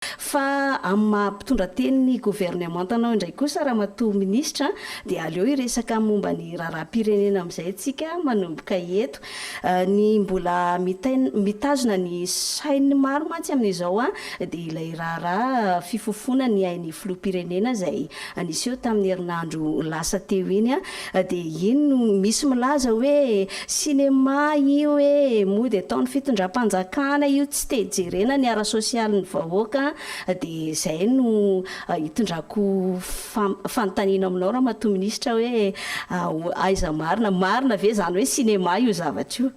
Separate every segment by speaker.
Speaker 1: Fa amin'ny maha mpitondra tenin'ny governemantanao indray kosa Ramatoa Minisitra dia aleo hiresaka momba ny raharaham-pirenena amin'izay isika manomboka eto. Ny mbola mitazona ny sain'ny maro mantsy amin'izao dia ilay raharaha fifofoana ny ain'ny Filoham-pirenena izay niseho tamin'ny herinandro lasa teo iny Dia iny no misy milaza hoe sinema io e, mody ataon'ny fitondram-panjakana io, tsy te jerena ny ara-sosialin'ny vahoaka, dia izay no hitondrako fanontaniana aminao Ramatoa Minisitra hoe aiza marina, marina ve izany hoe sinema io zavatra io?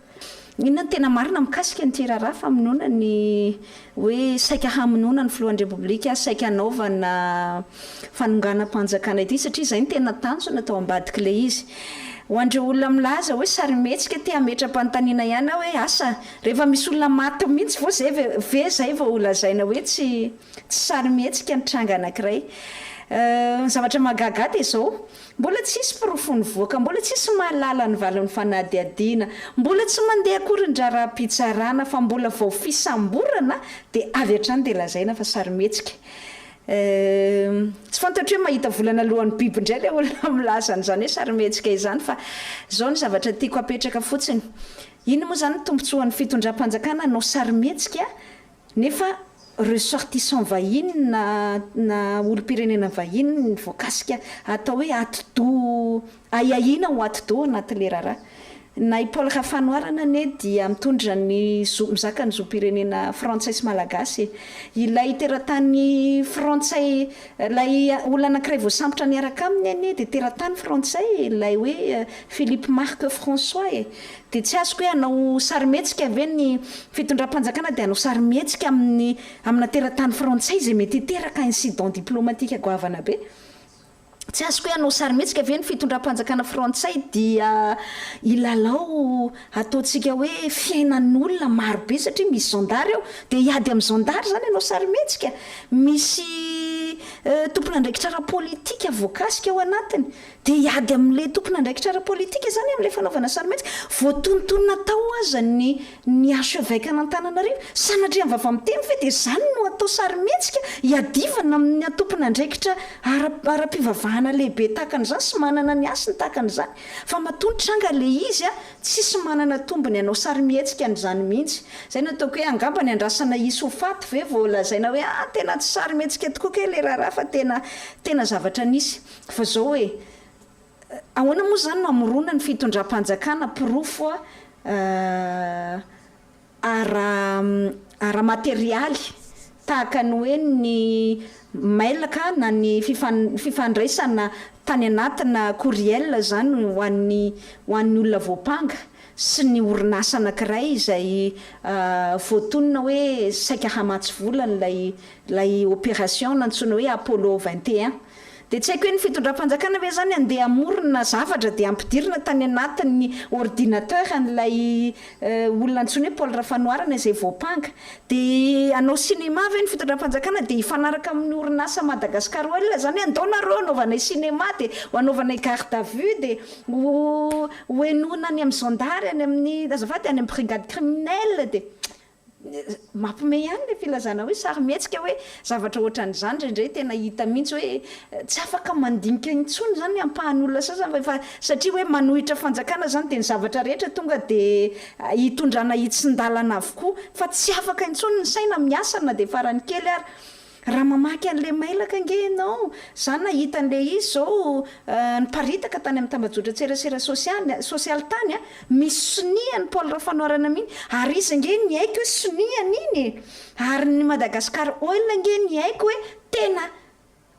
Speaker 1: Inona no tena marina
Speaker 2: mikasika an'ity raharaha famonoana ny hoe saika hamonoana ny filohan'ny Repoblika, saika hanaovana fanonganam-panjakana ity satria izay no tena tanjona tao ambadik'ilay izy. Ho an'ireo olona milaza hoe sarimihetsika te hametra-panontaniana ihany aho hoe asa rehefa misy olona maty mihitsy vao izay ve ve izay vao ho lazaina hoe tsy tsy sarimihetsika ny tranga anankiray? Ny zavatra mahagaga ahy dia izao, Mbola tsy hisy porofo nivoaka, mbola tsy hisy mahalala ny valin'ny fanadihadiana, mbola tsy mandeha akory ny draharaham-pitsarana fa mbola vao fisamborana dia avy hatrany dia lazaina fa sarimihetsika. Euh. Tsy fantatro hoe mahita volana lohan'ny biby indray ilay olona milaza an'izany hoe sarimihetsika izany fa izao ny zavatra tiako hapetraka fotsiny, inona moa izany ny tombontsoan'ny fitondram-panjakana hanao sarimihetsika? Nefa ressortissants vahiny na na olom-pirenena vahiny ny voakasika atao hoe atidoha ahiahiana ho atidoha anatin'ilay raharaha. Na i Paul Rafanoharana anie dia mitondra ny zo mizaka ny zom-pirenena frantsay sy malagasy e! Ilay teratany frantsay ilay olona anankiray voasambotra niaraka aminy anie dia teratany frantsay e! Ilay hoe Philippe Marc François e! Dia tsy azoko hoe hanao sarimihetsika ve ny fitondram-panjakana dia hanao sarimihetsika amin'ny amina teratany frantsay izay mety hiteraka incident diplomatique goavana be. Tsy azoko hoe hanao sarimihetsika ve ny fitondram-panjakana frantsay dia hilalao ataontsika hoe fiainan'olona maro be satria misy zandary ao dia hiady amin'ny zandary izany hanao sarimihetsika? Misy tompon'andraikitra ara-politika voakasika ao anatiny Dia hiady amin'ilay tompon'andraikitra ara-politika izany amin'ilay fanaovana sarimihetsika. Voatonontonona tao aza ny ny archeveque an'Antananarivo. Sanatria vava-miteny ve dia izany no atao sarimihetsika? Iadivana amin'ny antompon'andraikitra ara ara-pivavahana lehibe tahaka an'izany sy manana ny hasiny tahaka an'izany. Fa matoa nitranga ilay izy an, tsisy manana tombony hanao sarimihetsika an'izany mihitsy. Izay no ataoko hoe angamba ny andrasana hisy ho faty ve vao lazaina hoe an tena tsy sarimihetsika tokoa kay ilay raharaha fa tena tena zavatra nisy. Fa zao e, ahoana moa zany no hamorona ny fitondram-panjakana porofo ara ara materialy tahaka ny hoe ny mail ka na ny fifan fifandraisana tany anatina courriel zany ho an'ny ho an'ny olona voampanga sy ny orinasa anakiray izay voatonona hoe saika hamatsy vola an'ilay ilay opération nantsoina hoe Apollo 21 Dia tsy haiko hoe ny fitondram-panjakana ve izany andeha hamorona zavatra dia hampidirina tany anatin'ny ordinateur an'ilay olona antsoina hoe Paul Rafanoharana izay voampanga. Dia hanao cinéma ve ny fitondram-panjakana dia hifanaraka amin'ny orinasa Madagascar Oil izany hoe andao nareo hanaovanay cinéma dia ho anaovanay garde à vue dia ho ho henoina any amin'ny zandary any amin'ny azafady any amin'ny brigade criminelle dia Mampme ihany le filazana hoe sarimihetsika hoe zavatra ohatran'izany indraindray tena hita mihitsy hoe tsy afaka mandinika intsony izany ny ampahan'olona sasany fa efa satria hoe manohitra fanjakana izany dia ny zavatra rehetra tonga dia hitondrana hitsin-dalana avokoa fa tsy afaka intsony ny saina miasa na dia farany kely ary Raha mamaky an'ilay mailaka ange ianao, za nahita an'ilay izy zao niparitaka tany amin'ny tambajotran-tserasera sosialy, sosialy tany a, misy sonia an'i Paul Rafanoharana mihiny, ary izy ange niaiky hoe sonia an'iny e! ary ny Madagascar Oil ange niaiky hoe tena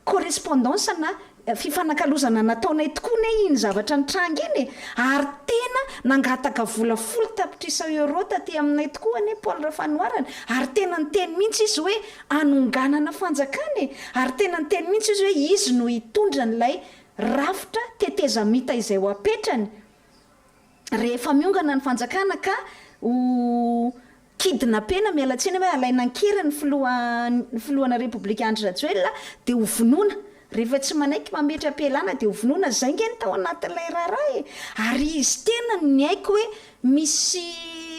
Speaker 2: correspondance-na Fifanakalozana nataonay tokoa ne iny zavatra nitranga iny e! ary tena nangataka vola folo tapitrisa euros taty aminay tokoa anie Paul Rafanoharana ary tena niteny mihitsy izy hoe hanonganana fanjakana e! ary tena niteny mihitsy izy hoe izy no hitondra an'ilay rafitra tetezamita izay ho apetrany rehefa miongana ny fanjakana ka ho kidnapena miala tsiny hoe alaina an-keriny ny filoha ny filohana repoblika Andry Rajoelina dia ho vonoina rehefa tsy manaiky mametra-pialana dia ho vonoina zay nge ny tao anatin'ilay raharaha e! ary izy tena no niaiky hoe misy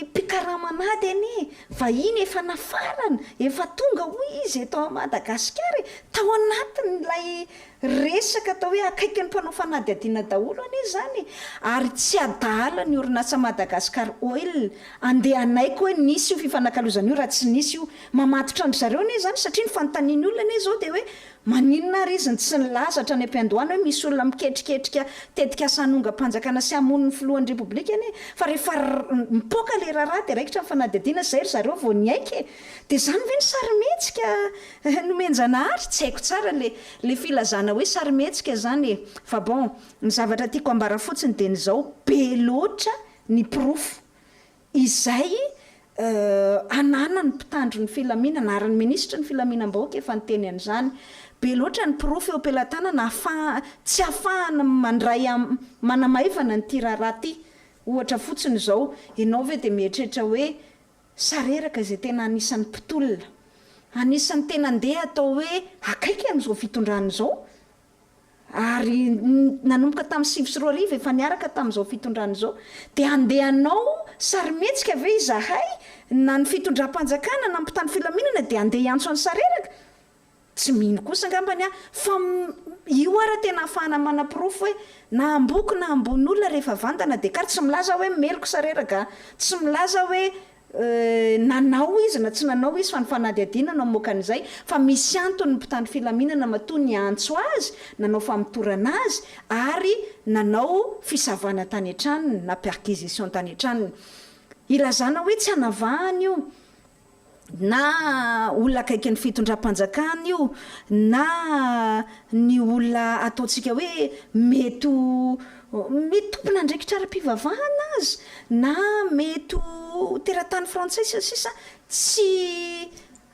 Speaker 2: mpikarama an'ady anie vahiny efa nafarana efa tonga hoy izy eto Madagasikara e! tao anatin'ilay Resaka atao hoe akaiky ny mpanao fanadihadiana daholo anie izany e! Ary tsy adaala ny orinasa Madagascar Oil andeha hanaiky hoe nisy io fifanakalozana io raha tsy nisy io. Mamatotra an-dry zareo anie izany satria ny fanontanian'ny olona anie izao dia hoe maninona ary izy no tsy nilaza hatrany am-piandohana hoe misy olona miketriketrika tetikasa hanongam-panjakana sy hamono ny filohan'ny Repoblika anie fa rehefa mipoaka ilay raharaha dia raikitra ny fanadihadiana izay ry zareo vao niaiky e! Dia izany ve ny sarimihetsika Eh, nomen-janahary? Tsy haiko tsara le le filazana hoe sarimihetsika zany e! Fa bon, ny zavatra tiako ambara fotsiny de ny zao, be loatra ny porofo izay eh ananan'ny mpitandro ny filaminana ary ny minisitry ny filaminam-bahoaka efa niteny an'izany, be loatra ny porofo eo am-pelatanana ahafaha tsy ahafahana mandray am manamaivana an'ity raharaha ty. Ohatra fotsiny zao, enao ve de mieritreritra hoe Sareraka izay tena anisan'ny mpitolona. Anisan'ny tena ndeha atao hoe akaiky an'izao fitondrana izao. Ary nanomboka tamin'ny sivy sy roa arivo efa niaraka tamin'izao fitondrana izao. Dia andeha hanao sarimihetsika ve izahay na ny fitondram-panjakana na ny mpitandro filaminana dia andeha hiantso an'i Sareraka? Tsy mino kosa angambany aho fa io ara tena ahafahana manaporofo hoe na amboky na ambony olona rehefa vandana dia kar tsy milaza aho hoe meloky sa reraka a, tsy milaza aho hoe nanao izy na tsy nanao izy fa ny fanadihadiana no mamoaka an'izay fa misy antony ny mpitandro filaminana matoa niantso azy, nanao famotorana azy ary nanao fisavana tany an-tranony na perquisition tany an-tranony. Ilazana hoe tsy anavahana io. na olona akaikin'ny fitondram-panjakana io na ny olona ataontsika hoe mety ho mety tompon'andraikitra ara-pivavahana aza na mety ho teratany frantsay sy ny sisa tsy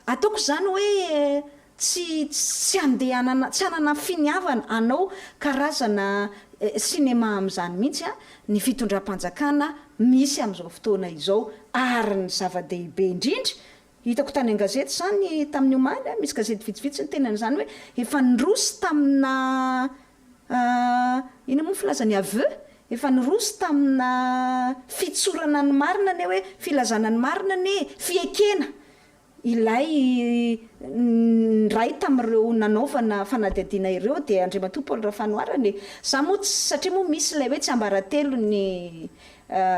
Speaker 2: ataoko izany hoe Tsy tsy handehanana tsy hanana finiavana hanao karazana cinéma amin'izany mihitsy ny fitondram-panjakana misy amin'izao fotoana izao ary ny zava-dehibe indrindra, hitako tany an-gazety izany tamin'ny omaly, misy gazety vitsivitsy niteny an'izany hoe efa niroso tamina inona moa ny filaza ny aveux? efa niroso tamina fitsorana ny marina anie hoe filazana ny marina anie e! fiekena Ilay niray tamin'ireo nanaovana fanadihadiana ireo dia Andriamatoa Paul Rafanoharana e! Za moa tsy, satria moa misy ilay hoe tsiambaratelon'ny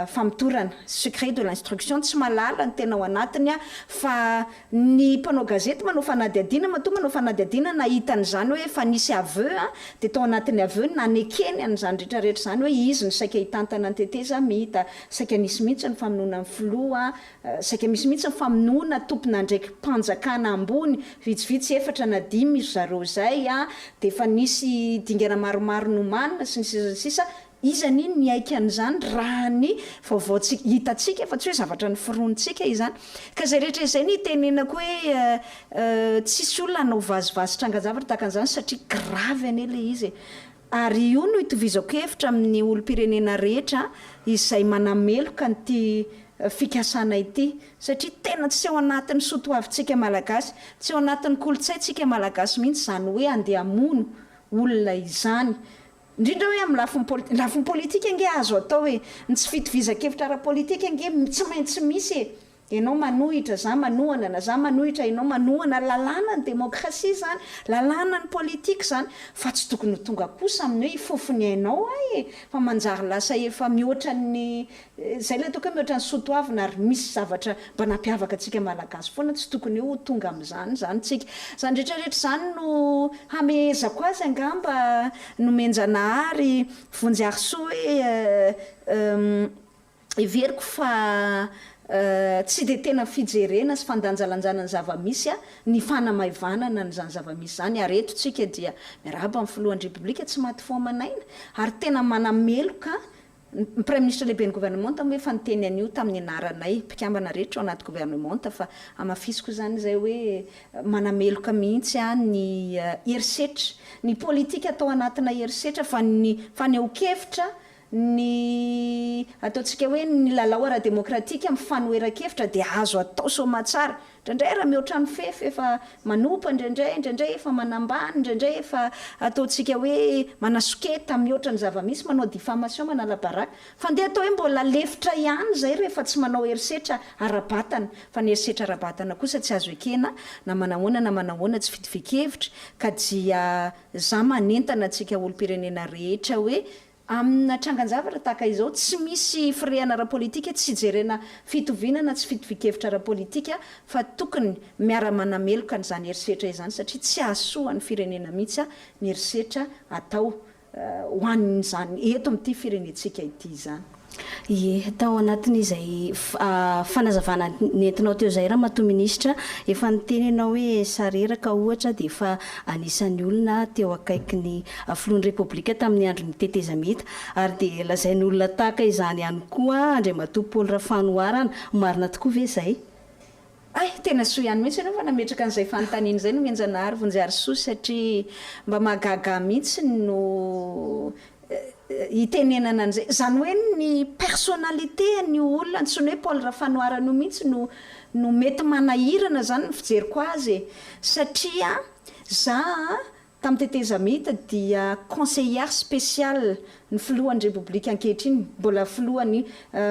Speaker 2: famotorana, secret de l'instruction, tsy mahalala ny tena ao anatiny aho fa ny mpanao gazety manao fanadihadiana matoa manao fanadihadiana nahita an'izany hoe efa nisy aveu an, dia tao anatin'ny aveu ny nanekeny an'izany rehetra rehetra izany hoe izy no saika hitantana ny tetezamita, saika nisy mihitsy ny famonoana ny filoha Saika misy mihitsy ny famonoana tompon'andraiki-panjakana ambony, vitsivitsy efatra na dimy iry zareo izay, dia efa nisy dingana maromaro nomanina sy ny sisa sy ny sisa, iza anie no niaiky an'izany raha ny vaovao tsy hitantsika fa tsy hoe zavatra noforonintsika izany. Ka izay rehetra izay no itenenako hoe tsisy olona hanao vazivazy trangan-javatra tahaka an'izany satria grave anie ilay izy e! Ary io no itovizako hevitra amin'ny olom-pirenena rehetra izay manameloka an'ity fikasana ity, satria tena tsy ao anatin'ny soa toavintsika Malagasy, tsy ao anatin'ny kolontsaintsika Malagasy mihitsy izany hoe handeha hamono olona izany. Indrindra hoe amin'ny lafiny politika. Ny lafiny politika ange azo atao e! Ny tsy fitovizankevitra ara-politika ange tsy maintsy misy e! Enao manohitra, za manohana, na za manohitra, enao manohana, lalàna ny demokrasia zany, lalàna ny politique zany, fa tsy tokony ho tonga kosa amin'ny hoe hifofo ny ainao ahy e! fa manjary lasa efa mihoatran'ny zay ilay ataoko hoe mihoatran'ny soa toavina ary misy zavatra mba nampiavaka antsika malagasy foana, tsy tokony ho tonga amin'izany izany tsika. Izany rehetra rehetra izany no hamehezako azy angamba Nomenjanahary Vonjy Harisoa hoe Heveriko fa tsy dia tena fijerena sy fandanjalanjana ny zava-misy ny fanamaivanana an'izany zava-misy izany ary eto tsika dia miarahaba ny Filohan'ny Repoblika tsy maty fo aman'aina ary tena manameloka ny Praiminisitra Lehiben'ny Governemanta moa efa niteny an'io tamin'ny anaranay mpikambana rehetra ao anaty Governemanta fa hamafisiko izany izay hoe manameloka mihitsy aho ny herisetra, ny politika atao anatinay herisetra fa ny fanehoan-kevitra Ny ataontsika hoe ny lalao ara-demokratika mifanoheran-kevitra dia azo atao soamatsara. Indraindray raha mihoatra ny fefy efa manompa indraindray, indraindray efa manambany, indraindray efa ataontsika hoe manasoketa mihoatra ny zava-misy, manao diffamation, manala baraka. Fa andeha atao hoe mbola lefitra ihany izay rehefa tsy manao herisetra ara-batana. Fa ny herisetra ara-batana kosa tsy azo ekena na manahoana na manahoana, tsy fitovian-kevitra ka dia za manentana antsika olom-pirenena rehetra hoe Amina trangan-javatra tahaka izao, tsy misy firehana ara-politika, tsy ijerena fitoviana na tsy fitovian-kevitra ara-politika fa tokony miara-manameloka an'izany herisetra izany satria tsy hahasoa ny firenena mihitsy ny herisetra atao ho an'izany eto amin'ity firenentsika ity izany. Ie, tao
Speaker 1: anatin'izay fanazavana nentinao teo izay Ramatoa Minisitra, efa niteny ianao hoe sareraka ohatra dia efa anisan'ny olona teo akaiky ny Filohan'ny Repoblika tamin'ny andron'ny tetezamita, ary dia lazain'olona tahaka izany ihany koa Andriamatoa Paoly Rafanoharana, marina tokoa ve izay? Hay,
Speaker 2: tena soa ihany mihitsy ianao fa nametraka an'izay fanontaniana izay nohenjanahary vonjiharisoa satria mba mahagaga mihitsy no hitenenana an'izay, izany hoe ny personnalité an'io olona antsoina hoe Paul Rafanoharana io mihitsy no no mety manahirana izany ny fijeriko azy e! satria za Tamin'ny tetezamita dia Conseillère spéciale ny filohan'ny Repoblika ankehitriny, mbola filohan'ny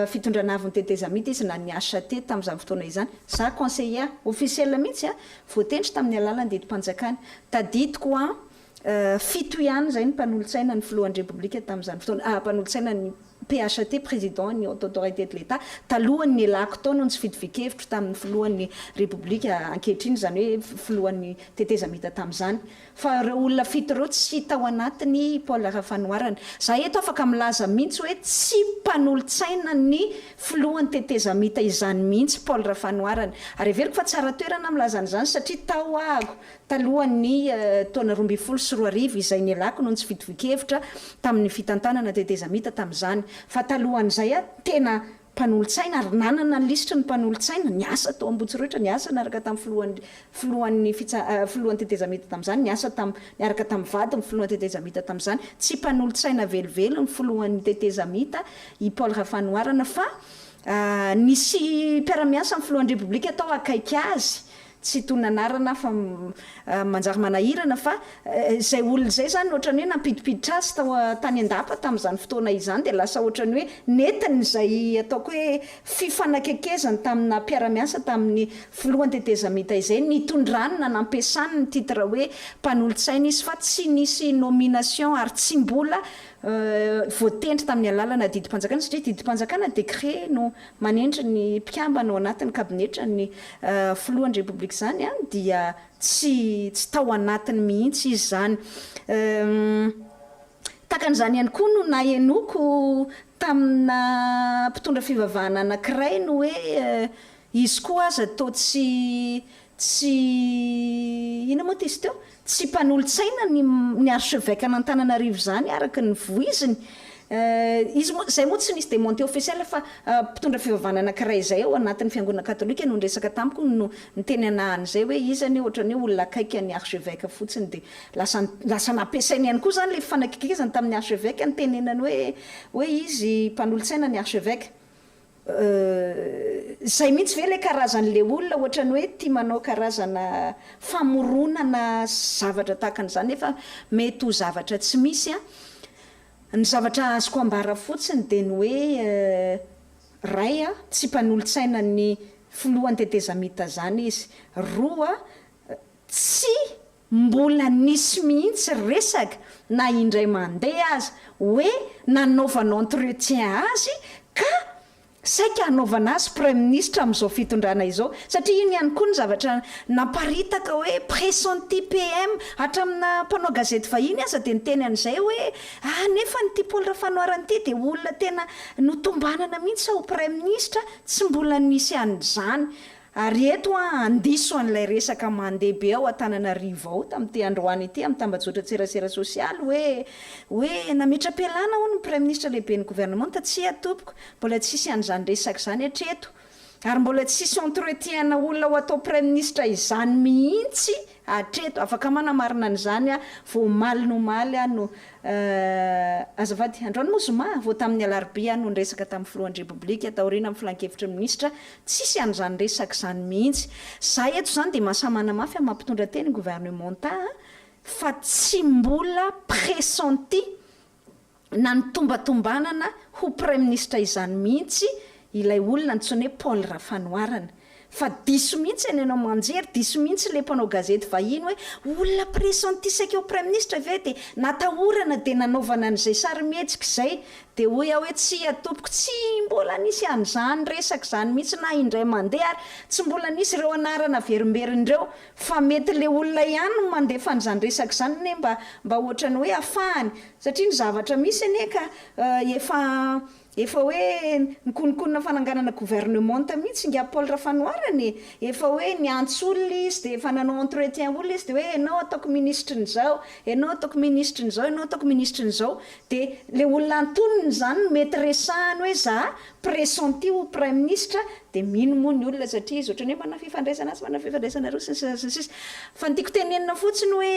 Speaker 2: fitondrana avon'ny tetezamita izy na ny HCT tamin'izany fotoana izany. Za Conseillère, officiel mihitsy a, voatendry tamin'ny alalan'ny didim-panjakana. Tadidiko an, fito ihany izay ny mpanolotsaina ny filohan'ny Repoblika tamin'izany fotoana, mpanolotsaina ny PHAT, Président ny Haute Autorité de l'Etat, talohan'ny nialako tao no nitsifidifian-kevitro tamin'ny Filohan'ny Repoblika ankehitriny, izany hoe Filohan'ny Tetezamita tamin'izany, fa ireo olona fito ireo tsy tao anatin'i Paul Rafanoharana. Izaho eto afaka milaza mihitsy hoe tsy mpanolotsaina ny Filohan'ny Tetezamita izany mihitsy Paul Rafanoharana. Ary heveriko fa tsara toerana milaza an'izany satria tao aho Talohan'ny taona roa ambin'ny folo sy roa arivo izay nialako no nitsifidvin-kevitra tamin'ny fitantanana tetezamita tamin'izany. Fa talohan'izay aho tena mpanolotsaina ary nanana ny lisitry ny mpanolotsaina, niasa tao Ambohitsorohitra, niasa niaraka tamin'ny filohan'ny filohan'ny fitsa filohan'ny tetezamita tamin'izany, niasa tam niaraka tamin'ny vadin'ny filohan'ny tetezamita tamin'izany. Tsy mpanolotsaina velively ny filohan'ny tetezamita i Paul Rafanoharana fa nisy mpiara-miasa ny filohan'ny Repoblika tao akaiky azy tsy toy ny anarana hafa manjary manahirana fa izay olona izay izany ohatran'ny hoe nampidipiditra azy tao tany an-dapa tamin'izany fotoana izany dia lasa ohatran'ny hoe nentiny izay ataoko hoe fifanakekezany tamina mpiara-miasa tamin'ny filohan'ny tetezamita izay nitondrany na nampiasany ny titre hoe mpanolotsaina izy fa tsy nisy nomination ary tsy mbola voatendry tamin'ny alalana didim-panjakana satria didim-panjakana, décret, no manendry ny mpikambana ao anatin'ny kabinetran'ny filohan'ny Repoblika izany dia tsy tsy tao anatiny mihitsy izy izany. Tahaka an'izany ihany koa no nahenoako tamina mpitondra fivavahana anankiray ny hoe izy koa aza toa tsy Tsy inona moa ty izy teo? Tsy mpanolotsaina ny ny archevêque an'Antananarivo izany araka ny voiziny. Eh, izy moa, izay moa tsy nisy demonte officiel fa mpitondra fivavahana anankiray izay ao anatin'ny fiangonana katolika no niresaka tamiko no niteny anah an'izay hoe izy anie ohatran'ny hoe olona akaiky an'ny archevêque fotsiny dia lasa lasa nampiasainy ihany koa izany ilay fifanakikezany tamin'ny archevêque nitenenany hoe hoe izy mpanolotsaina ny archevêque. Euh zay mihitsy ve le karazany le olona ohatrany hoe tia manao karazana famoronana zavatra tahaka an'izany nefa mety ho zavatra tsy misy a! Ny zavatra azoko ambara fotsiny dia ny hoe ray a tsy mpanolotsaina ny filohan'ny tetezamita zany izy, roa tsy Mbola nisy mihitsy resaka na indray mandeha aza hoe nanaovana entretien azy ka saika hanaovana azy praiminisitra amin'izao fitondrana izao satria iny ihany koa ny zavatra naparitaka hoe pressenti PM hatramina mpanao gazety vahiny aza dia niteny an'izay hoe ah nefa an'ity Paoly Rafanoharana ity dia olona tena notombanana mihitsy ho praiminisitra tsy mbola nisy an'izany Ary eto aho handiso an'ilay resaka mandeha be ao Antananarivo ao tamin'ity androany ity amin'ny tambajotran-tserasera sosialy hoe, hoe nametra-pialana hono ny Praiminisitra Lehiben'ny Governemanta, tsia tompoko, mbola tsisy an'izany resaka izany hatreto, ary mbola tsisy entretien-na olona ho atao Praiminisitra izany mihitsy hatreto, afaka manamarina an'izany aho, vao omaly nomaly aho no, eh, azafady, androany moa zoma? vao tamin'ny alarobia aho no niresaka tamin'ny Filohan'ny Repoblika taoriana amin'ny Filankevitry ny Minisitra Tsisy an'izany resaka izany mihitsy. Za eto izany dia mahasahy manamafy amin'ny maha mpitondra teny gouvernementat ahy fa tsy mbola pressenti na nitombatombanana ho praiminisitra izany mihitsy ilay olona antsoina hoe Paul Rafanoharana. Fa diso mihitsy any ianao manjery, diso mihitsy ilay mpanao gazety vahiny hoe olona pressenti saika ho praiminisitra ve dia natahorana dia nanaovana an'izay sarimihetsika izay Dia hoy aho hoe, Tsia, tompoko, tsy mbola nisy an'izany resaka izany mihitsy na indray mandeha, ary tsy mbola nisy ireo anarana averimberiny ireo. Fa mety ilay olona ihany no mandefa an'izany resaka izany anie mba mba hoatran'ny hoe hafahany. Satria ny zavatra misy anie ka efa efa hoe nikononkonona fananganana governemanta mihitsy ingahy Paul Rafanoharana e! Efa hoe niantso olona izy dia efa nanao entretien olona izy dia hoe ianao ataoko minisitry ny izao, ianao ataoko minisitry ny izao, ianao ataoko minisitry ny izao. Dia ilay olona antonony izany no mety resahany hoe za pressenti ho praiminisitra dia mino moa ny olona satria izy ohatran'ny hoe manana fifandraisana atsy, manana fifandraisana aroa sy ny sisa sy ny sisa. Fa ny tiako tenenina fotsiny hoe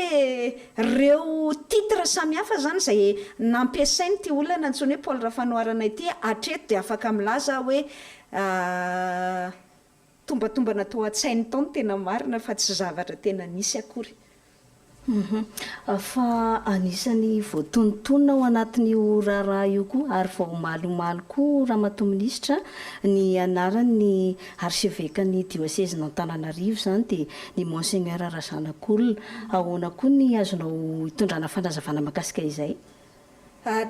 Speaker 2: ireo titre samihafa izany izay nampiasain'ity olona antsoina hoe Paul Rafanoharana ity hatreto dia afaka milaza aho hoe Tombatombana tao an-tsainy tao ny tena marina fa tsy zavatra tena nisy akory. Humm. Fa
Speaker 1: anisany voatonontonona ao anatin'io raharaha io koa ary vao omaly omaly koa Ramatoa Minisitra ny anaran'ny Archevekan'ny Diosezin'Antananarivo izany dia ny Monseigneur Razanakolona. Ahoana koa ny azonao itondrana fanazavana mahakasika izay?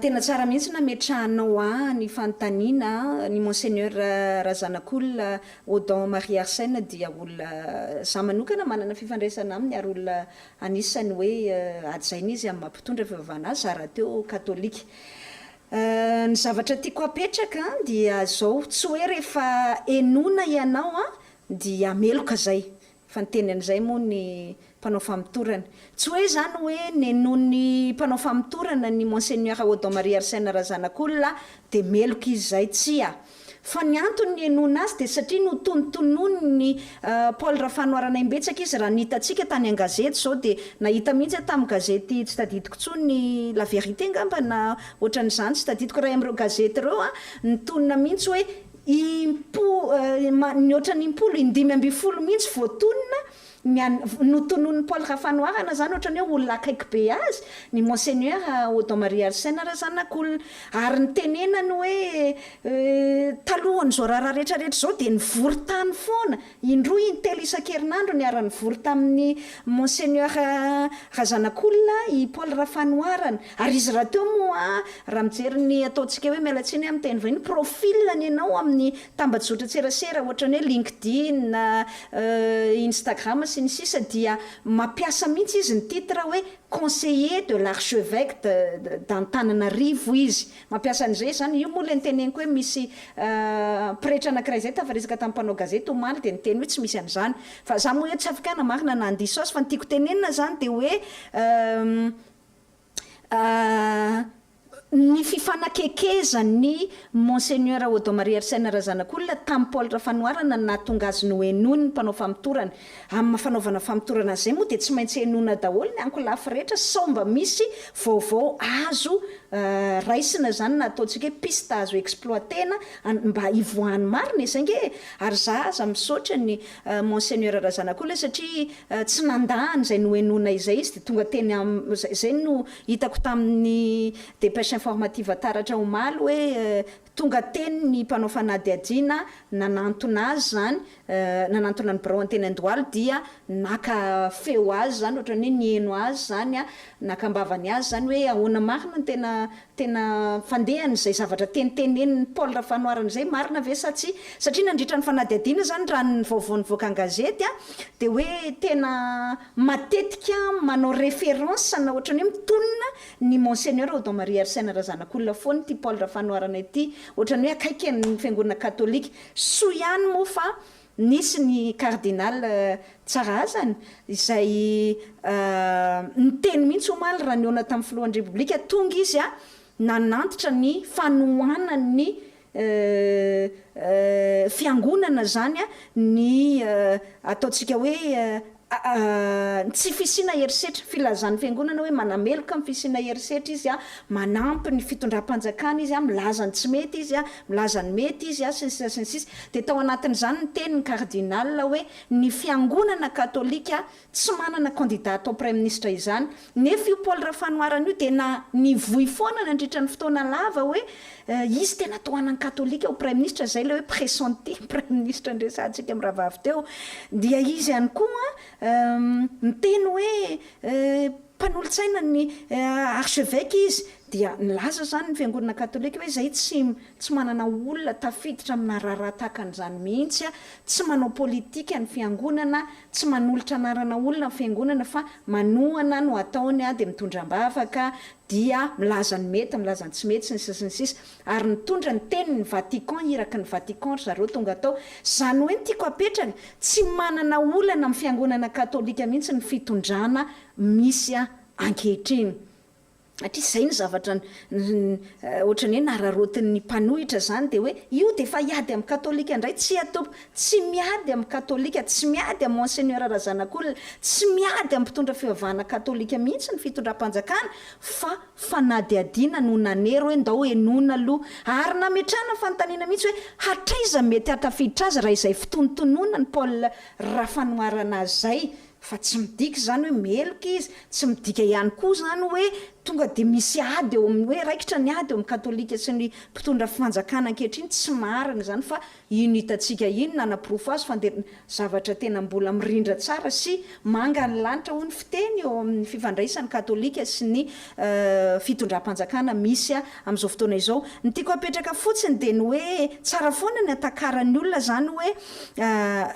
Speaker 1: Tena
Speaker 2: tsara mihitsy nametrahanao ahy ny fanontaniana an, ny Monseigneur Razanakolona Odon Marie Arsène dia olona za manokana manana fifandraisana aminy ary olona anisany hoe hajaina izy amin'ny maha mpitondra fivavahana azy za rahateo katolika. Ny zavatra tiako hapetraka dia zao, tsy hoe rehefa henoina ianao dia meloka zay, Fa niteny an'izay moa ny mpanao famotorana. Tsy hoe izany hoe nenoin'ny mpanao famotorana ny Monseigneur Odon Marie Arsène Razanakolona dia meloka izy izay, tsia. Fa ny antony nihenoina azy dia satria notonotonoin'i Paul Rafanoharana imbetsaka izy raha ny hitantsika tany an-gazety izao dia nahita mihitsy aho tamin'ny gazety tsy tadidiko intsony La Vérité angamba na ohatran'izany tsy tadidiko iray amin'ireo gazety ireo an, nitonona mihitsy hoe Impo-, ny ohatran'ny impolo, indimy ambin'ny folo mihitsy voatonona ny an-, notononin'i Paul Rafanoharana izany ohatran'ny hoe olona akaiky be azy, ny Monseigneur Odon Maria Arsène Razanakolona. Ary ny tenenany hoe, eh, talohan'izao raharaha rehetra rehetra izao dia nivory tany foana, Indroa intelo isan-kerinandro niara-nivory tamin'ny Monseigneur Razanakolona i Paul Rafanoharana. Ary izy rahateo moa raha mijery ny ataontsika hoe miala tsiny amin'ny teny vahiny, profil-ny ianao amin'ny tambajotran-tserasera ohatran'ny hoe LinkedIn, Instagram sy ny sisa dia mampiasa mihitsy izy ny titre hoe Conseiller de l'Archevecque d'Antananarivo izy. Mampiasa an'izay izy izany. Io moa ilay niteneniko hoe misy pretra anankiray izay tafa resaka tamin'ny mpanao gazety omaly dia niteny hoe tsy misy an'izany. Fa izaho moa eo tsy afaka hanamarina na handiso azy fa ny tiako tenenina izany dia hoe ny fifanakekezan'i Monseigneur Odon Maria Arsène Razanakolona tamin'i Paul Rafanoharana no nahatonga azy nohenoin'ny mpanao famotorana. Amin'ny maha fanaovana famotorana azy izay moa dia tsy maintsy henoina daholo ny ankolafy rehetra sao mba misy vaovao azo raisina izany na ataontsika hoe piste azo exploiter-na mba hivoahan'ny marina e, zay nge e! Ary za aza misaotra an'i Monseigneur Razanakolona satria tsy nandà an'izay nohenoina izay izy dia tonga teny amin'ny, izay no hitako tamin'ny dépêche informative taratra omaly hoe Tonga teny ny mpanao fanadihadiana nanantona azy izany, nanantona ny birao an-teny Andohalo dia naka feo azy izany, ohatran'ny hoe niheno azy izany, naka am-bavany azy izany hoe ahoana marina no tena tena fandehan'izay zavatra tenitenenin'i Paul Rafanoharana izay, marina ve sa tsia? Satria nandritra ny fanadihadiana izany raha ny vaovao nivoaka an-gazety dia hoe tena matetika manao référence na ohatran'ny hoe mitonona Ny Monseigneur Odon Maria Arsène Razanakolona foana ity Paul Rafanoharana ity ohatrany hoe akaiky an'ny fiangonana katolika. Soa ihany moa fa nisy ny Cardinal Tsarahazany izay niteny mihitsy omaly raha nihaona tamin'ny filohan'ny Repoblika tonga izy nanantitra ny fanohanany fiangonana izany ny ataontsika hoe ny tsy fisiana herisetra, filazan'ny fiangonana hoe manameloka ny fisiana herisetra izy, manampy ny fitondram-panjakana izy, milaza ny tsy mety izy, milaza ny mety izy, sy ny sisa sy ny sisa. Dia tao anatin'izany ny tenin'ny kardinaly hoe ny fiangonana katolika Tsy manana kandida atao praiminisitra izany. Nefa io Paul Rafanoharana io dia na nivoy foana nandritra ny fotoana lava hoe izy tena tohanan'ny katolika ho praiminisitra, izay ilay hoe pressenti praiminisitra niresahantsika amin'ny rahavavy teo. Dia izy ihany koa niteny hoe mpanolotsaina ny archeveque izy. Dia nilaza izany ny fiangonana katolika hoe izahay tsy tsy manana olona tafiditra amina raharaha tahaka an'izany mihitsy, tsy manao politika ny fiangonana. Tsy manolotra anarana olona ny fiangonana fa manohana no ataony dia mitondra ambavaka dia milaza ny mety milaza ny tsy mety sy ny sisa sy ny sisa ary nitondra ny teniny ny Vatican iraky ny Vatican ry zareo tonga tao zany hoe ny tiako apetraka tsy manana olana amin'ny fiangonana katolika mihitsy ny fitondrana misy ankehitriny Hatrisy izay ny zavatra ohatran'ny hoe nararaotin'ny mpanohitra izany dia hoe io dia efa hiady amin'ny katolika indray, tsia tompoko, tsy miady amin'ny katolika, tsy miady amin'i Monseigneur Razanakolona, tsy miady amin'ny mpitondra fivavahana katolika mihitsy ny fitondram-panjakana fa fanadihadiana no nanery hoe ndao henoina aloha ary nametrahana fanontaniana mihitsy hoe hatraiza mety hahatafiditra azy raha izay fitonontononan'i Paul Rafanoharana izay Fa tsy midika izany hoe meloka izy, tsy midika ihany koa izany hoe tonga dia misy ady eo amin'ny, hoe raikitra ny ady eo amin'ny katolika sy ny mpitondra fanjakana ankehitriny, tsy marina izany fa iny hitantsika iny nanaporofo azy fa dia zavatra tena mbola mirindra tsara sy manga ny lanitra hoy ny fiteny eo amin'ny fifandraisan'ny katolika sy ny fitondram-panjakana misy amin'izao fotoana izao. Ny tiako hapetraka fotsiny dia ny hoe tsara foana ny hatakaran'ny olona izany hoe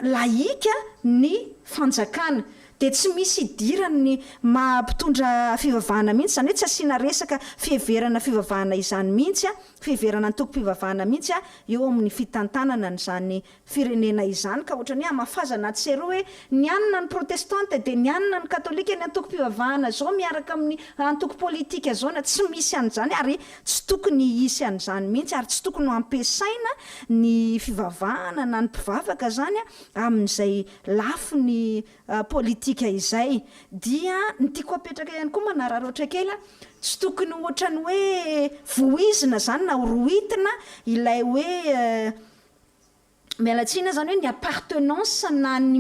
Speaker 2: laïque ny fanjakana dia tsy misy idirany ny maha mpitondra fivavahana mihitsy, izany hoe tsy asiana resaka fiheverana fivavahana izany mihitsy, fiheverana antokom-pivavahana mihitsy eo amin'ny fitantanana an'izany firenena izany ka ohatran'ny hoe hamafazana atsy sy eroa hoe ny any na ny protestanta dia ny any na ny katolika ny antokom-pivavahana izao miaraka amin'ny antoko politika izao na tsy misy an'izany ary tsy tokony hisy an'izany mihitsy ary tsy tokony ho ampiasaina ny fivavahana na ny mpivavaka izany Amin'izay lafiny politika izay dia ny tiako apetraka ihany koa manararaotra kely a, tsy tokony ohatran'ny hoe voizina izany na horohitina ilay hoe miala tsiny izany hoe ny appartenance na ny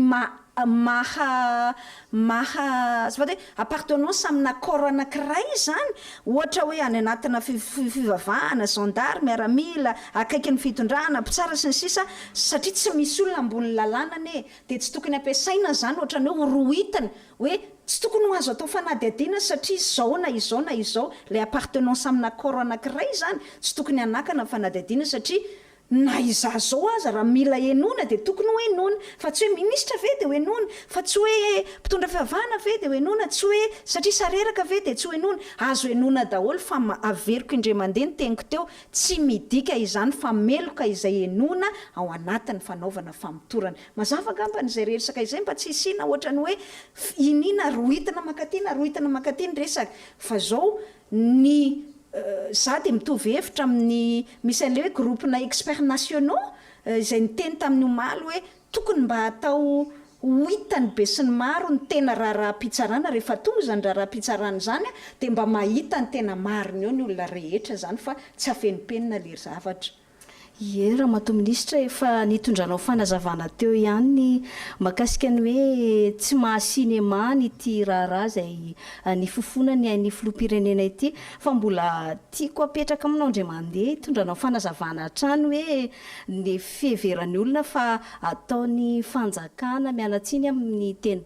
Speaker 2: maha maha azafady hoe appartenance amina corps anankiray izany, ohatra hoe any anatina fivavahana, gendarme, miaramila, akaikin'ny fitondrana, mpitsara sy ny sisa satria tsy misy olona ambony lalàna anie e! dia tsy tokony ampiasaina izany ohatrany hoe horohitana hoe tsy tokony ho azo atao fanadihadiana satria izao na izao na izao, ilay appartenance amina corps anankiray izany tsy tokony hanakana fanadihadiana satria Na izaho izao aza raha mila henoina dia tokony ho henoina, fa tsy hoe minisitra ve dia ho henoina, fa tsy hoe mpitondra fivavahana ve dia ho henoina, tsy hoe satria sareraka ve dia tsy ho henoina. Azo henoina daholo fa averiko indray mandeha ny teniko teo, tsy midika izany fa meloka izay henoina ao anatin'ny fanaovana famotorana. Mazava angambany izay rersaka izay mba tsy hisiana ohatran'ny hoe iniana rohitina mankaty na rohitina mankaty ny resaka, fa izao. Ny za dia mitovy hevitra amin'ny misy an'ilay hoe groupe-na experts nationaux izay niteny tamin'ny omaly hoe tokony mba atao ho hitan'ny besinimaro ny tena raharaham-pitsarana rehefa tonga izany raharaham-pitsarana izany dia mba mahita ny tena marina eo ny olona rehetra izany fa tsy afenimpenina ilay zavatra. Ie,
Speaker 1: Ramatoa Minisitra, efa nitondranao fanazavana teo ihany ny mahakasika ny hoe tsy maha cinéma an ity raharaha izay nifofona ny ain'ny Filoham-pirenena ity. Fa mbola tiako apetraka aminao indray mandeha hitondranao fanazavana hatrany hoe ny fiheveran'ny olona fa ataon'ny fanjakana mianatsiny amin'ny teny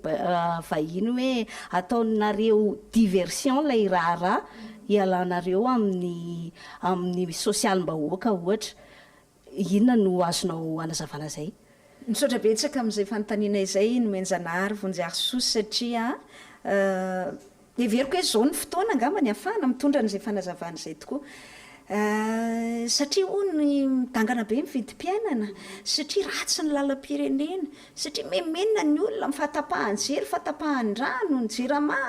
Speaker 1: vahiny hoe ataonareo diversion ilay raharaha hialanareo amin'ny Amin'ny sosialim-bahoaka ohatra, inona no azonao anazavana izay? Misaotra betsaka
Speaker 2: amin'izay fanontaniana izay Nomenjanahary Vonjiarisoa satria heveriko hoe izao no fotoana angamba ny ahafahana mitondra an'izay fanazavana izay tokoa. Satria hono midangana be ny vidim-piainana, satria ratsy ny lalam-pirenena, satria memenona ny olona amin'ny fahatapahan-jery, fahatapahan-drano, ny jirama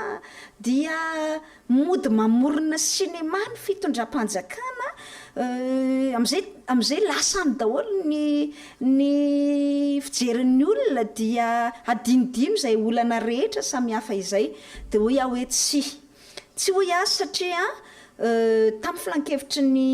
Speaker 2: dia Mody mamorona sinema ny fitondram-panjakana eh, amin'izay amin'izay lasa any daholo ny ny fijerin'ny olona dia hadinodino izay olana rehetra samihafa izay. Dia hoy aho hoe tsia. Tsy hoy aho satria eh, tamin'ny filankevitry ny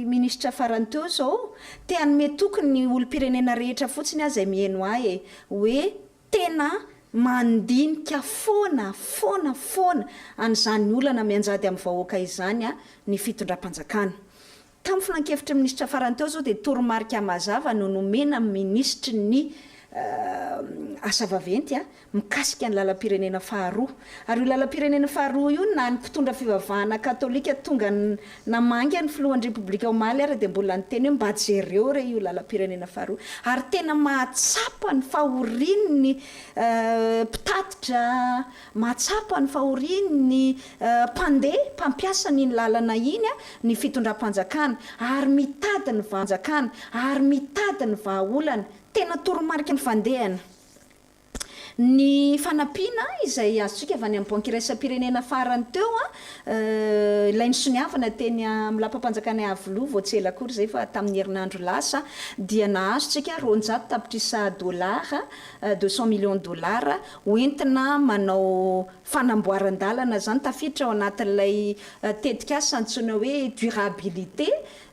Speaker 2: minisitra farany teo izao, te-hanome toky ny olom-pirenena rehetra fotsiny aho izay miheno ahy eh, hoe Tena mandinika foana, foana, foana an'izany olana mianjady amin'ny vahoaka izany ny fitondram-panjakana. Tamin'ny filankevitry ny minisitra farany teo izao dia toromarika mazava no nomena amin'ny minisitry ny Asa vaventy mikasika ny lalam-pirenena faharoa. Ary io lalam-pirenena faharoa io na ny mpitondra fivavahana katolika tonga Namangy ny filohan'ny Repoblika omaly ary dia mbola niteny hoe mba jereo re io lalam-pirenena faharoa ary tena mahatsapa ny fahoriany ny mpitatitra, mahatsapa ny fahoriany ny mpandeha, mpampiasa an'iny lalana iny ny fitondram-panjakana ary mitady ny vahaolana, tena toromarika ny fandehany Ny fanampiana izay azontsika avy any amin'ny Banky Iraisam-pirenena farany teo, ilay nisoniavina teny amin'ny Lapam-panjakana Iavoloha vao tsy ela akory izay fa tamin'ny herinandro lasa, dia nahazontsika roanjato tapitrisa dolara, deux cent millions dollars, ho entina manao fanamboaran-dalana. Izany tafiditra ao anatin'ilay tetikasa antsoina hoe durabilité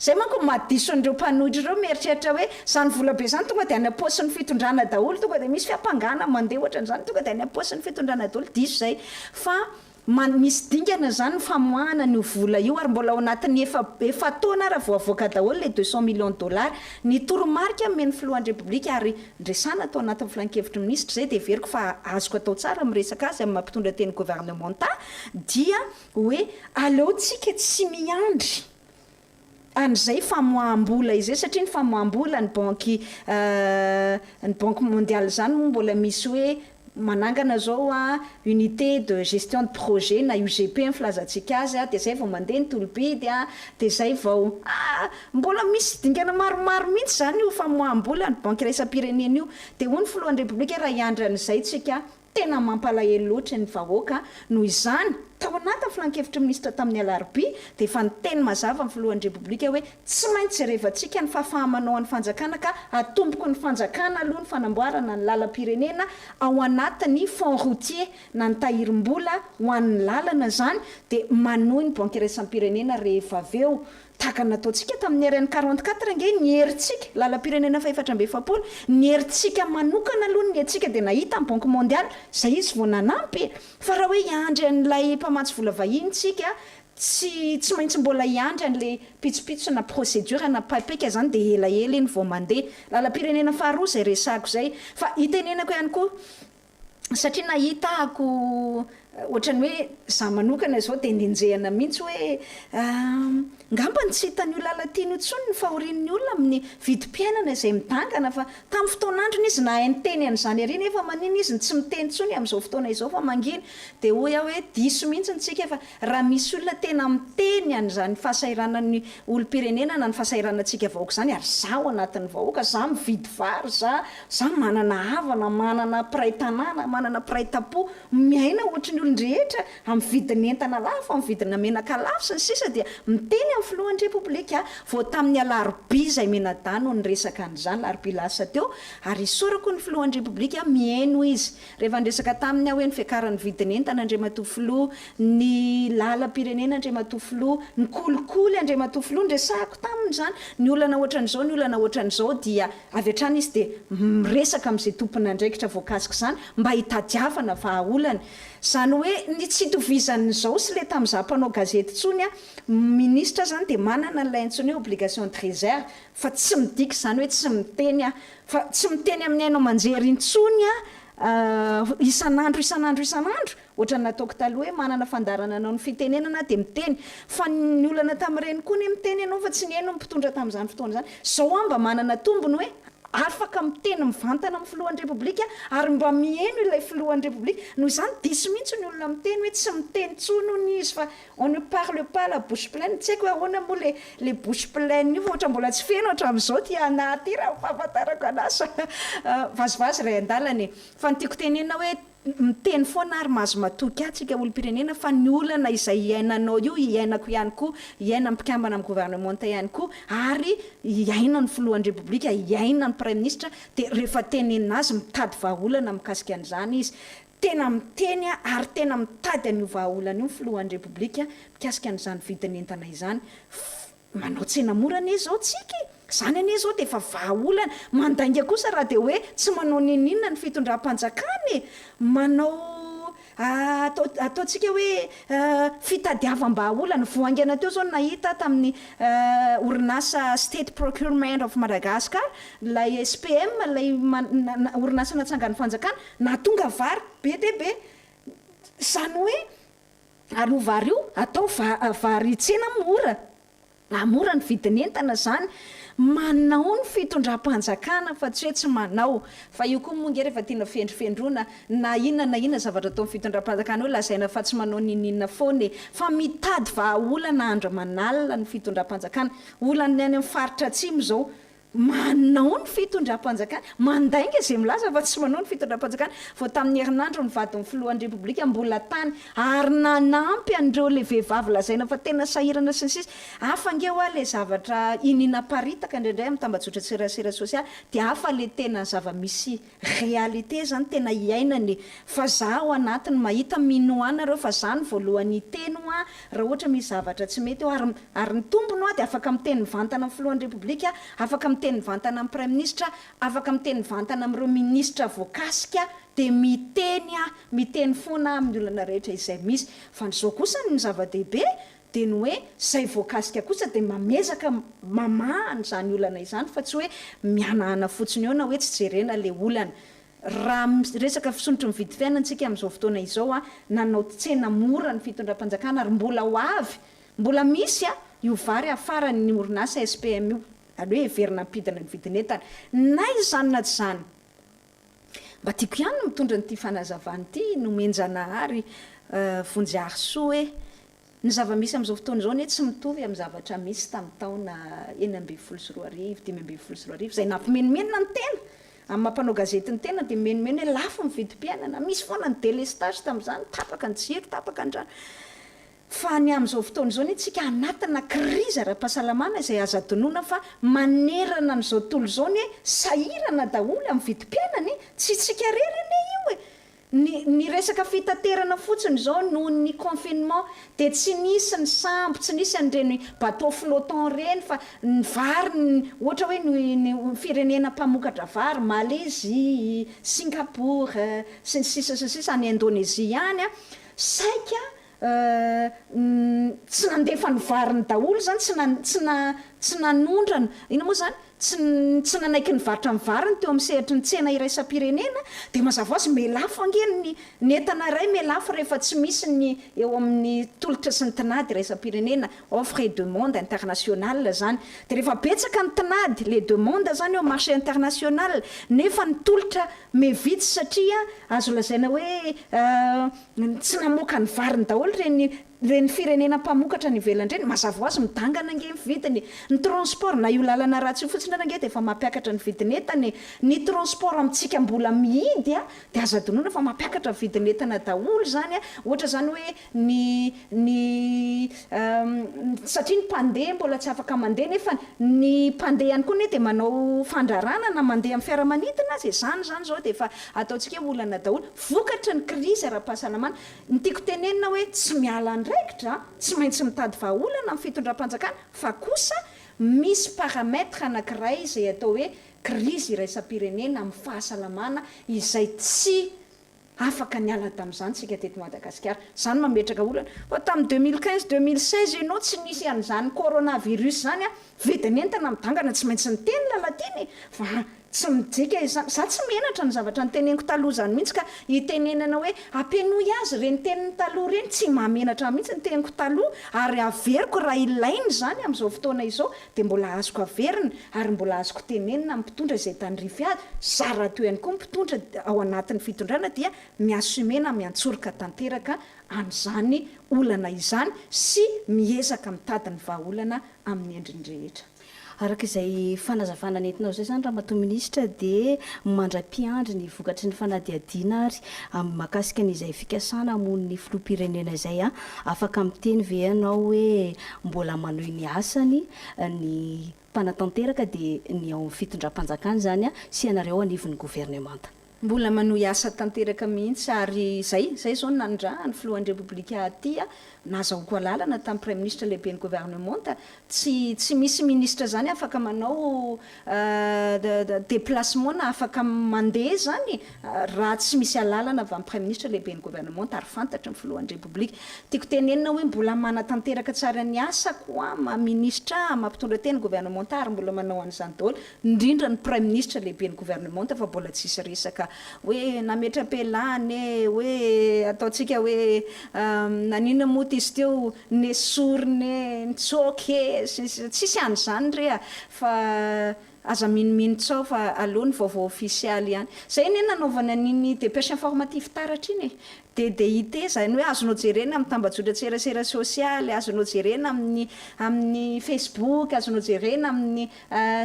Speaker 2: Izay manko no maha-dison'ireo mpanohitra ireo mieritreritra hoe izany volabe izany tonga dia any am-paosin'ny fitondrana daholo, tonga dia misy fiampangana mandeha ohatran'izany, tonga dia any am-paosin'ny fitondrana daholo, diso izay fa man, misy dingana izany ny famoahana an'io vola io ary mbola ao anatin'ny efa, efa-taona ary voavoaka daholo ilay deux cent millions de dollars. Ny toromarika omen'ny filohan'ny Repoblika ary ndresana tao anatin'ny filankevitry ny minisitra izay dia heveriko fa azoko atao tsara ny miresaka azy amin'ny maha mpitondra teny governemanta dia hoe aleontsika tsy miandry an'izay famoaham-bola izay satria ny famoaham-bola ny banky ny banky mondialy izany moa mbola misy hoe manangana izao unité de gestion de projet na UGP ny filazantsika azy dia izay vao mandeha ny tolo-bidy dia izay vao mbola misy dingana maromaro mihitsy izany io famoaham-bola ny banky iraisam-pirenena io dia hoy ny filohan'ny repoblika raha hiandry an'izay tsika Tena mampalahelo loatra ny vahoaka noho izany. Tao anatin'ny filankevitry ny minisitra tamin'ny alarobia dia efa niteny mazava ny filohan'ny Repoblika hoe tsy maintsy jerevantsika ny fahafaha-manoan'ny fanjakana ka atomboky ny fanjakana aloha ny fanamboarana ny lalam-pirenena ao anatin'ny fonds routier na ny tahirim-bola ho an'ny lalana izany dia manohy ny banky iraisam-pirenena rehefa avy eo Tahaka ny nataontsika tamin'ny RN 44 ange ny herintsika, lalam-pirenena fahefatra amby efapolo, ny herintsika manokana aloha ny hetsika dia nahita ny Banque Mondiale, izay izy vao nanampy e! Fa raha hoe hiandry an'ilay mpamatsy vola vahiny tsika, tsy tsy maintsy mbola hiandry an'ilay pitsopitso na procédure na paipeka izany dia elaela iny vao mandeha. Lalam-pirenena faharoa izay resahako izay. Fa itenenako ihany koa, satria nahita ako ohatrany hoe za manokana zao de nenjehana mintsy hoe ngambany tsy hitan'io Lalatiana io tsony ny fahorian'ny olona amin'ny vidim-piainana izay midangana fa tamin'ny fotoan'androny izy nahay niteny an'izany ery nefa manina izy no tsy miteny tsony amin'izao fotoana izao fa manginy de hoy aho hoe diso mintsy ny tsika fa Raha misy olona tena miteny an'izany fahasahiranan'ny olom-pirenena na ny fahasahiranantsika vahoaka izany, ary izaho anatin'ny vahoaka, izaho mividy vary, izaho, izaho manana havana, manana mpiray tanàna, manana mpiray tam-po, miaina ohatry ny olon-drehetra, amin'ny vidin'entana lafo, amin'ny vidina menaka lafo, sy ny sisa dia miteny amin'ny filohan'ny Repoblika aho. Vao tamin'ny alarobia izay mianadahy no niresaka an'izany, alarobia lasa teo, ary isaorako ny filohan'ny Repoblika, mihaino izy. Rehefa niresaka taminy aho hoe ny fiakaran'ny vidin'entana Andriamatoa Filoha, ny lalam-pirenena Andriamatoa Filoha, ny kolikoly Andriamatoa Filoha, niresahako taminy izany, ny olana ohatran'izao, ny olana ohatran'izao dia avy hatrany izy dia miresaka amin'izay tompon'andraikitra voakasik'izany mba hitadiavana vahaolana. Izany hoe ny tsy itovizan'izao sy ilay tamin'izaho mpanao gazety intsony an, minisitra izany dia manana an'ilay antsoina hoe obligation de réserve, fa tsy midika izany hoe tsy miteny aho, fa tsy miteny amin'ny haino aman-jery intsony aho isan'andro isan'andro isan'andro, ohatran'ny nataoko taloha hoe manana fandaharana hanao ny fitenenana aho dia miteny, fa ny olana tamin'ireny koa anie miteny ianao fa tsy nihaino ny mpitondra tamin'izany fotoana izany, izao aho mba manana tombony hoe afaka miteny mivantana amin'ny filohan'ny Repoblika aho ary mba miheno ilay filohan'ny Repoblika, noho izany diso mihitsy ny olona miteny hoe tsy miteny intsony hono izy fa On ne parle pas la bouche pleine, tsy haiko ahoana moa le le bouche pleine io fa ohatra mbola tsy feno hatramin'izao ity anah ity raha ny fahafantarako anah sa vazivazy ray an-dalana e! Fa ny tiako tenenina hoe miteny foana ary mahazo matoky ahy tsika olom-pirenena fa ny olana izay iainanao io iainako ihany koa, iainan'ny mpikambana amin'ny governemanta ihany koa ary iainan'ny filohan'ny repoblika, iainan'ny praiminisitra dia rehefa tenenina azy mitady vahaolana mikasika an'izany izy Tena miteny ary tena mitady an'io vahaolana io ny filohan'ny Repoblika mikasika an'izany vidin'entana izany. Manao tsena mora anie izao tsika e! Izany anie izao dia efa vahaolana. Mandainga kosa raha dia hoe tsy manao n'inon'inona ny fitondram-panjakana e! Manao atao ataontsika hoe fitadiavam-bahaolana. Vao haingana teo izao no nahita aho tamin'ny orinasa State Procurement of Madagascar, ilay SPM, ilay orinasa natsangan'ny fanjakana, Nahatonga vary be dia be. Izany hoe ary io vary io atao vary tsena mora. Hahamora ny vidin'entana izany. Manao ny fitondram-panjakana fa tsy hoe tsy manao. Fa io koa moa ange rehefa tiana fendrofendroana na inona na inona zavatra ataon'ny fitondram-panjakana eo lazaina fa tsy manao niniana foana e. Fa mitady vahaolana andro aman'alina ny fitondram-panjakana. Olan'ny any amin'ny faritra atsimo izao Manao ny fitondram-panjakana, mandainga izay milaza fa tsy manao ny fitondram-panjakana. Vao tamin'ny herinandro ny vadin'ny filohan'ny Repoblika mbola tany ary nanampy an'ireo ilay vehivavy lazaina fa tena sahirana sy ny sisa. Hafa ange hoa ilay zavatra iniana aparitaka indraindray amin'ny tambajotran-tserasera sosialy dia hafa ilay tena zava-misy Réalité zany tena hiainana e! Fa za ao anatiny mahita minoana reo fa za ny voalohany hiteny hoa raha ohatra misy zavatra tsy mety hoa ary ary ny tombony hoa dia afaka miteny mivantana amin'ny filohan'ny repoblika, afaka miteny mivantana amin'ny praiminisitra, afaka miteny mivantana amin'ireo minisitra voakasika dia miteny aho, miteny foana aho amin'ny olana rehetra izay misy. Fa ny zao kosa ny zava-dehibe Dia ny hoe izay voakasika kosa dia mamezaka mamaha an'izany olana izany fa tsy hoe mihanahana fotsiny eo na hoe tsy jerena ilay olana. Raha miresaka fisondrotry ny vidy fiainana isika amin'izao fotoana izao, nanao tsena mora ny fitondram-panjakana ary mbola ho avy, mbola misy io vary hafaran'ny orinasa SPM io, aleo heverina hampidina ny vidin'entana na izany na tsy izany. Mba tiako ihany ny mitondra an'ity fanazavana ity nomen-Janahary Vonjiharisoa e! Ny zava-misy amin'izao fotoana izao anie tsy mitovy amin'ny zavatra misy tamin'ny taona enina ambin'ny folo sy roa arivo, dimy ambin'ny folo sy roa arivo, izay nampimenomenona ny tena amin'ny maha mpanao gazety ny tena dia mimenomeno hoe lafo ny vidim-piainana, misy foana ny délestage tamin'izany, tapaka ny jiro, tapaka ny rano. Fa ny amin'izao fotoana izao anie tsika anatina krizy ara-pahasalamana izay azo adinoina fa manerana an'izao tontolo izao anie sahirana daholo amin'ny vidim-piainana e! Tsy tsika irery anie io e! Ny ny resaka fitaterana fotsiny izao noho ny confinement dia tsy nisy ny sambo, tsy nisy an'ireny bateau flottant ireny fa ny vary ny ohatra hoe ny ny firenena mpamokatra vary Malaisie, Singapour sy ny sisa sy ny sisa any Indonesie any an, saika Uhm tsy nandefa ny variny daholo zany tsy na tsy na tsy nanondrana inona moa zany tsy tsy nanaiky nivarotra ny variny teo amin'ny sehatry ny tsena iraisam-pirenena dia mazava hoazy me lafo ange ny ny entana iray me lafo rehefa tsy misy ny eo amin'ny tolotra sy ny tinady iraisam-pirenena offre et demande internationale zany dia rehefa betsaka ny tinady les demandes zany eo marché international nefa ny tolotra me vitsy satria azo lazaina hoe Ny tsy namoaka ny variny daholo ireny ireny firenena mpamokatra any ivelany ireny, mazava ho azy midangana ange ny vidiny e! Ny transport na io lalana ratsy io fotsiny ary ange dia efa mampiakatra ny vidin'entana e! Ny transport amintsika mbola mihidy dia aza adinoina fa mampiakatra ny vidin'entana daholo izany a! Ohatra izany hoe ny ny satria ny mpandeha mbola tsy afaka mandeha nefa ny mpandeha ihany koa anie dia manao fandrarana na mandeha amin'ny fiaramanidina aza e, izany izany izao dia efa ataontsika hoe olana daholo, vokatry ny krizy ara-pahasalamana, ny tiako tenenina hoe tsy miala andraikitra, tsy maintsy mitady vahaolana ny fitondram-panjakana fa kosa misy paramètre anankiray izay atao hoe krizy iraisam-pirenena amin'ny fahasalamana izay tsy Afaka niala tamin'izany isika teto Madagasikara. Izany mametraka olana. Fa tamin'ny deux mille quinze, deux mille seize ianao tsy nisy an'izany coronavirus izany an! Vidin'entana midangana tsy maintsy niteny Lalatiana e! Fa tsy mijika izany. Izaho tsy menatra ny zavatra noteneniko taloha izany mihitsy ka hitenenana hoe ampenoy azy ireny teniny taloha ireny. Tsy mahamenatra ahy mihitsy ny teniko taloha ary averiko raha ilaina izany amin'izao fotoana izao. dia mbola azoko averina ary mbola azoko tenenina ny mpitondra izay tandrify azy, zary raha toa ihany koa ny mpitondra ao anatin'ny fitondrana dia mi-assumer na miantsoroka tanteraka an'izany olana izany sy miezaka mitady ny vahaolana amin'ny endriny rehetra. Araka izay
Speaker 1: fanazavana nentinao izay izany Ramatoa Minisitra dia mandra-piandry ny vokatry ny fanadihadiana ary mahakasika an'izay fikasana hamono ny Filoham-pirenena izay, afaka miteny ve ianao hoe Mbola manohy ny asany ny mpanatanteraka dia ny ao amin'ny fitondram-panjakana izany sy ianareo anivon'ny governemanta. Mbola manohy
Speaker 2: asa tanteraka mihitsy ary izay, izay izao ny nanindran'ny filohan'ny Repoblika aty, nahazahoako alalana tamin'ny Praiminisitra lehiben'ny governemanta, tsy tsy misy minisitra izany afaka manao Déplacement na afaka mandeha zany e! Raha tsy misy alalana avy amin'ny Praiminisitra, Lehiben'ny Governemanta ary fantatry ny Filohan'ny Repoblika. Tiako tenenina hoe mbola manatanteraka tsara ny asako aho maha Minisitra aho, maha Mpitondra Teny Governemanta ary mbola manao an'izany daholo, indrindra ny Praiminisitra, Lehiben'ny Governemanta fa mbola tsisy resaka hoe nametra-pialana e, hoe ataontsika hoe naninona moa ty izy teo? nesoriny ee, nitsoaka ee, sy ny sisa Tsisy an'izany re a! Fa aza minomino tsaho fa aleo ny vaovao ofisialy ihany. Izay anie nanaovana an'iny dépêche informative taratra iny e! DDIT izany hoe azonao jerena amin'ny tambajotran-tserasera sosialy, azonao jerena amin'ny amin'ny Facebook, azonao jerena amin'ny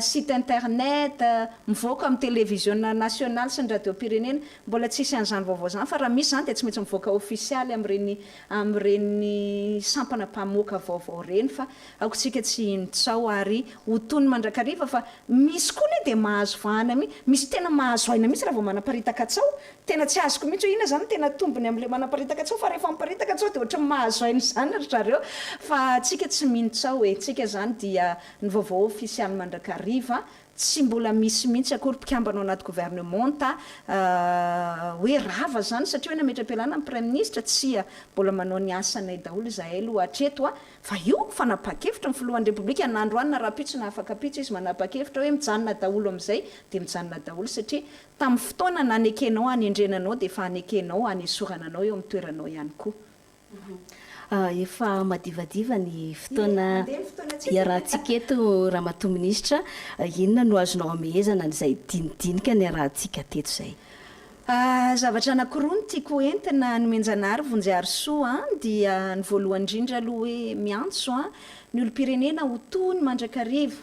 Speaker 2: site internet, mivoaka amin'ny televiziona nasionaly sy ny radiom-pirenena. Mbola tsisy an'izany vaovao izany fa raha misy izany dia tsy maintsy mivoaka ofisialy amin'ireny amin'ireny sampana mpamoaka vaovao ireny fa aokantsika tsy hino tsaho ary ho tony mandrakariva fa misy koa anie dia mahazo vahana mihi, misy tena mahazo aina mihitsy raha vao manaparitaka tsaho, tena tsy azoko mihitsy hoe inona izany no tena tombony amin'ilay manaparitaka tsaho fa rehefa miparitaka tsaho dia ohatran'ny mahazo aina izany ry zareo fa tsika tsy mino tsaho e, tsika izany dia ny vaovao ofisialy mandrakariva Tsy mbola misy mihitsy akory mpikambana ao anaty governemanta hoe rava izany satria hoe nametra-pialana ny praiminisitra, tsia, mbola manao ny asanay daholo izahay aloha hatreto fa io fanapahan-kevitra ny filohan'ny repoblika na androany na rahampitso na afakampitso izy manapa-kevitra hoe mijanona daholo amin'izay dia mijanona daholo satria tamin'ny fotoana nanekenao hanendrena anao dia efa hanekenao hanesorana anao eo amin'ny toeranao ihany koa. Efa
Speaker 1: madivadiva ny fotoana iarahantsika eto Ramatoa Minisitra. Inona no azonao amehezana an'izay dinidinika niarahantsika teto izay?
Speaker 2: Zavatra anankiroa no tiako ho entina nomenjanahary Vonjiharisoa an, dia ny voalohany indrindra aloha hoe miantso ny olom-pirenena ho tony mandrakariva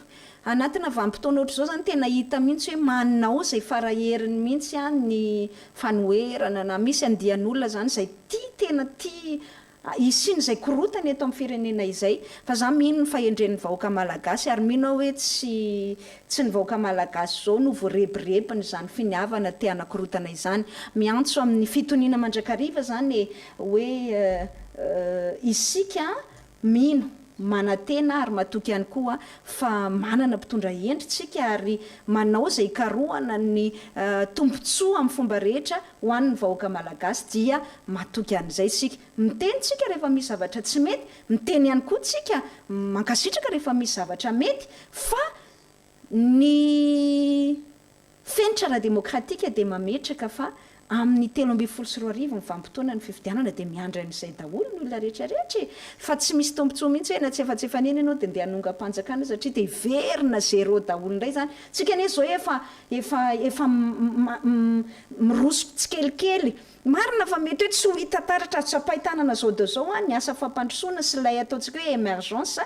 Speaker 2: Anatina vanim-potoana ohatr'izao izany tena hita mihitsy hoe manao izay fara-heriny mihitsy ny fanoherana na misy andian'olona izany izay tia tena tia hisian'izay korontana eto amin'ny firenena izay fa izaho mino ny fahendren'ny vahoaka malagasy ary mino aho hoe tsy tsy ny vahoaka malagasy izao no voarebirebin'izany finiavana te hanakorontana izany. Miantso amin'ny fitoniana mandrakariva izany e! hoe isika Mino, manantena ary matoky ihany koa fa manana mpitondra hendry isika ary manao izay hikarohana ny tombontsoa amin'ny fomba rehetra ho an'ny vahoaka malagasy dia matoky an'izay isika. Miteny isika rehefa misy zavatra tsy mety, miteny ihany koa isika mankasitraka rehefa misy zavatra mety fa Ny fenitra ara-demokratika dia mametraka fa amin'ny telo ambin'ny folo sy roa arivo ny vanim-potoana ny fifidianana dia miandry an'izay daholo ny olona rehetra rehetra e! fa tsy misy tombotsoa mihitsy hoe na tsy efa tsy efa neny ianao dia ndeha hanongam-panjakana satria dia hiverina zéro daholo indray izany, tsika anie izao efa efa efa miroso tsikelikely Marina fa mety hoe tsy ho hita taratra ary tsapain-tanana zao daholo zao ny asa fampandrosoana sy ilay ataontsika hoe emergence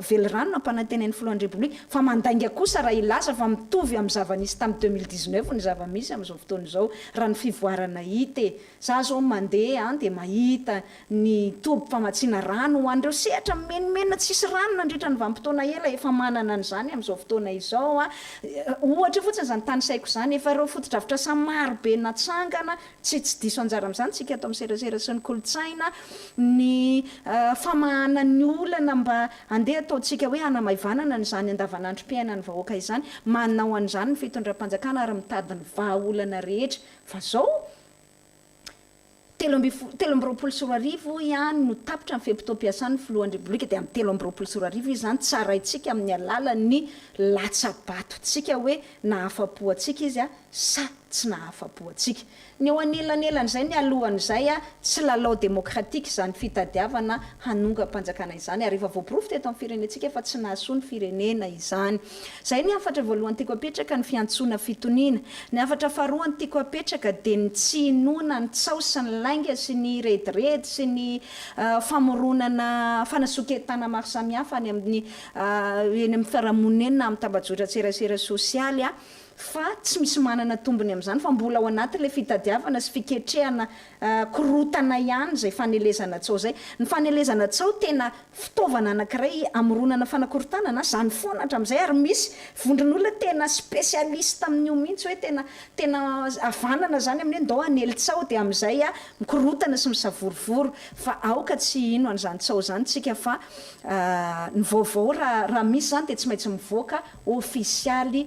Speaker 2: velirano nampanantenain'ny filohan'ny Repoblika fa mandainga kosa raha hilaza fa mitovy amin'ny zava-nisy tamin'ny deux mille dix neuf ny zava-misy amin'izao fotoana izao raha ny fivoarana hita e! Za zao mandeha any dia mahita ny toby famatsiana rano ho an'ireo sehatra mimenomenona tsisy rano nandritra ny vanim-potoana ela, efa manana an'izany amin'izao fotoana izao aho. Ohatra fotsiny izany tanisaiko izany. Efa ireo fotodrafitrasa maro be natsangana, tsy tsy diso anjara amin'izany isika ato amin'ny serasera sy ny kolontsaina, ny famahana ny olana mba handeha ataontsika hoe hanamaivanana an'izany andavanandrom-piainan'ny vahoaka izany. Manao an'izany ny fitondram-panjakana ary mitady ny vahaolana rehetra. Fa izao? Telo amby fo- telo amby roapolo sy roa arivo ihany no tapitra ny fe-potoam-piasan'ny Filohan'ny Repoblika dia amin'ny telo amby roapolo sy roa arivo izy izany tsaraintsika amin'ny alalan'ny latsa-batontsika hoe nahafa-po antsika izy sa tsy nahafa-po antsika. Ny eo anelanelan'izay mialohan'izay, tsy lalao demokratika izany fitadiavana hanongam-panjakana izany ary efa voaporofo teto amin'ny firenentsika fa tsy nahasoa ny firenena izany. Izay ny hafatra voalohany tiako apetraka, ny fiantsoana fitoniana. Ny hafatra faharoany tiako apetraka dia ny tsy hinoana ny tsaho sy ny lainga sy ny rediredy sy ny famoronana fanasoke'entana maro samihafa any amin'ny eny amin'ny fiarahamonina eny na amin'ny tambajotran-tserasera sosialy fa tsy misy manana tombony amin'izany fa mbola ao anatin'ilay fitadiavana sy fiketrehana korontana ihany izay fanelezana tsaho izay. Ny fanelezana tsaho tena fitaovana anankiray amoronana fanakorontanana izany foana hatramin'izay ary misy vondron'olona tena specialiste amin'io mihitsy hoe tena tena havanana izany amin'ny hoe ndao hanely tsaho dia amin'izay mikorotana sy misavorovoro fa aoka tsy hino an'izany tsaho izany tsika fa ny vaovao raha raha misy izany dia tsy maintsy mivoaka ofisialy